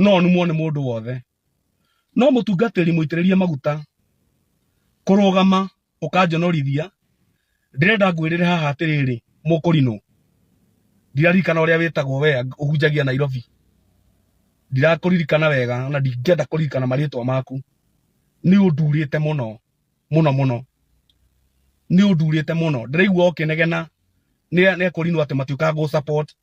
no numwo nĩ mũndũ wothe no mũtungatĩri mũitĩrĩrie maguta kũrũgama ũkanjonorithia ndĩrenda ngwĩrĩre haha atĩrĩrĩ mũkũrinũ ndiraririkana ũrĩa wĩtagwo we ũhunjagia nairobi ndirakũririkana wega ona ndingĩenda kũririkana marĩtwa maku nĩ ũndurĩte mũno mũno mũno nĩ ũndurĩte mũno ndĩraigua ũkĩnegena nĩ nĩ ekũrinwo atĩ matiũkaga gũ support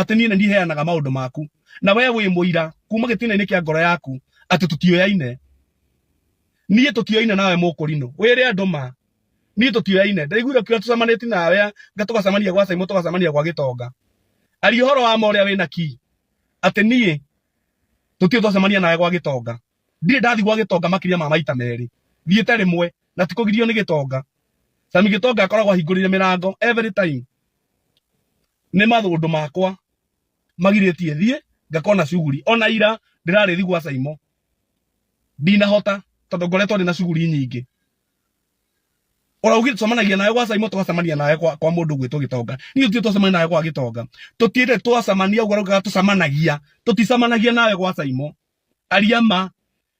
atĩ niĩ nĩ ndiheanaga maũndũ maku na we wĩ mũira kuma gĩtina-inĩ kĩa ngoro yaku atĩ tũtioyaine niĩ tũtioyaine nawe mũkũrinũ wĩre andũ ma niĩ tũtioyaine ndaiguire ũkiuga tũcemanĩtie nawe nga tũgacemania gwa caimũ tũgacemania gwa gĩtonga aria ũhoro wa ma ũrĩa wĩna ki atĩ niĩ tũtio twacemania nawe gwa gĩtonga ndirĩ ndathi gwa gĩtonga makĩria ma maita merĩ thiĩte rĩmwe na tikũgirio nĩ gĩtonga sami gĩtonga akoragwo ahingũrĩire mĩrango every time nĩ mathũndũ makwa magirĩtie thiĩ ngakona cuguri ona ira ndĩrarĩ thigu wa caimo ndinahota tondũ ngoretwo ndĩ na cuguri nyingĩ ũraugire tũcemanagia nawe gwa caimo twacemania nawe kwa, kwa mũndũ gwĩtwo gĩtonga niĩ tũtire twacemania nawe gwa gĩtonga tũtire twacemania ũguo raugaga tũcemanagia tũticemanagia nawe gwa caimo aria ma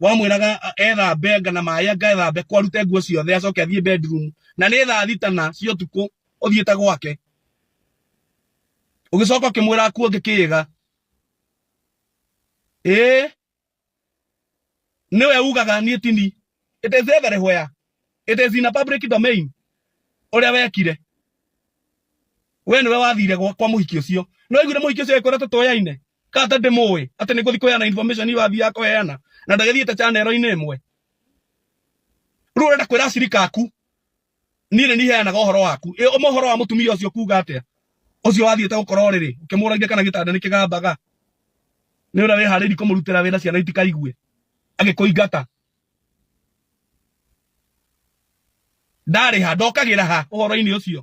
wamwĩraga a- ethambe anga na maĩ anga ethambe kwa arute nguo ciothe acoke athiĩ bedroom na nĩ thaa thita na cia ũtukũ ũthiĩte gwake ũgĩcoka ũkĩmwĩra akuo ngĩkĩĩga ĩĩ nĩwe ugaga niĩ tini it is everywhere it is in a public domain ũrĩa wekire we nĩwe wathire gwa kwa mũhiki ũcio nĩ waiguire mũhiki ũcio agĩkwĩra tũtũyaine kata ndimũĩ atĩ nĩ gũthiĩ kũheana information iyo athiaga kũheana na ndagĩthiĩte chanero-inĩ ĩmwe rĩu ũrenda kwĩra acirika aku niĩ nĩ niheanaga ũhoro waku ũma ũhoro wa mũtumia ũcio kuga atĩa ũcio wathiĩte gũkorwo rĩrĩ ũkĩmũragia kana gĩtanda nĩ kĩgambaga nĩ ũrĩa wĩharĩirie kũmũrutĩra wĩra ciana itikaigue agĩkũingata ndarĩha ndokagĩra ha ũhoro-inĩ ũcio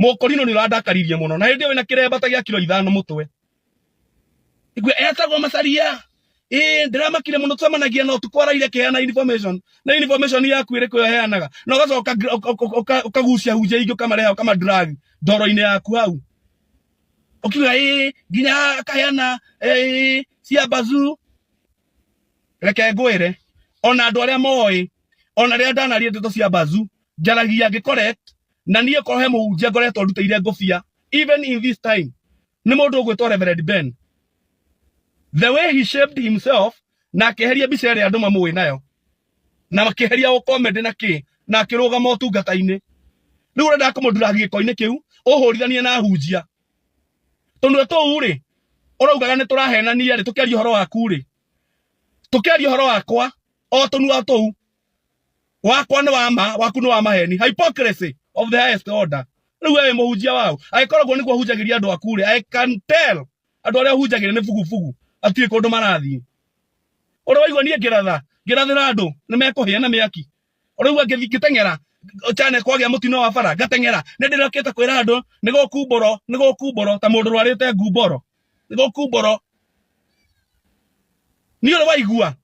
mũkũrinũ nĩ ũrandakaririe mũno na hĩndĩ ĩyo wĩna kĩremba ta gĩa kiro ithano mũtwe igwe etagwo macaria ĩĩ ndĩramakire mũno tũcemanagia na ũtukũ araire kĩheana information na information yaku ĩrĩ kũyo heanaga na ũgacoka ũka- ũka- ũka- ũka- ũkagucia hunjia ingĩ ũkamareha ũkamadrag ndoro-inĩ yaku hau ũkiuga ĩĩ nginya akaheana ĩĩ cia bazu reke ngwĩre ona andũ arĩa moĩ ona rĩrĩa ndanaria ndeto cia bazu njaragia ngĩkoret na niĩ korwo he mũhunjia ngoretwo ndutĩire ngũbia even in this time nĩ mũndũ ũgwĩtwo Reverend Ben the way he shaped himself na akeheria mbica ĩrĩa andũ mamũĩ nayo na makĩheria ũkomende na kĩ na akĩrũgama ũtungata-inĩ rĩu ũrenda kũmũndura gĩko-inĩ kĩu ũhũrithanie na hunjia tũnua tũu rĩ ũraugaga nĩ tũrahenania rĩ tũkĩaria ũhoro waku rĩ tũkĩaria ũhoro wakwa o tũnua tũu wakwa nĩ wa ma waku nĩ wa maheni hypocrisy of the highest order rĩu we wĩ mũhunjia wao agĩkorwo guo nĩguo hunjagĩria andũ aku rĩ i can tell andũ arĩa hunjagĩria nĩ bugubugu atiũĩ kũndũ marathiĩ ũrĩa waigua niĩ ngĩratha ngĩrathĩra andũ nĩ mekũhĩa na mĩaki ũrĩa waigua ngĩthi- ngĩteng'era cyane kwagĩa mũtino wa bara ngateng'era nĩ ndĩrokĩte kwĩra andũ nĩ gũkumbũro nĩ gũkumbũro ta mũndũ rwarĩte ngumboro nĩ gũkumbũro niĩ ũrĩa waigua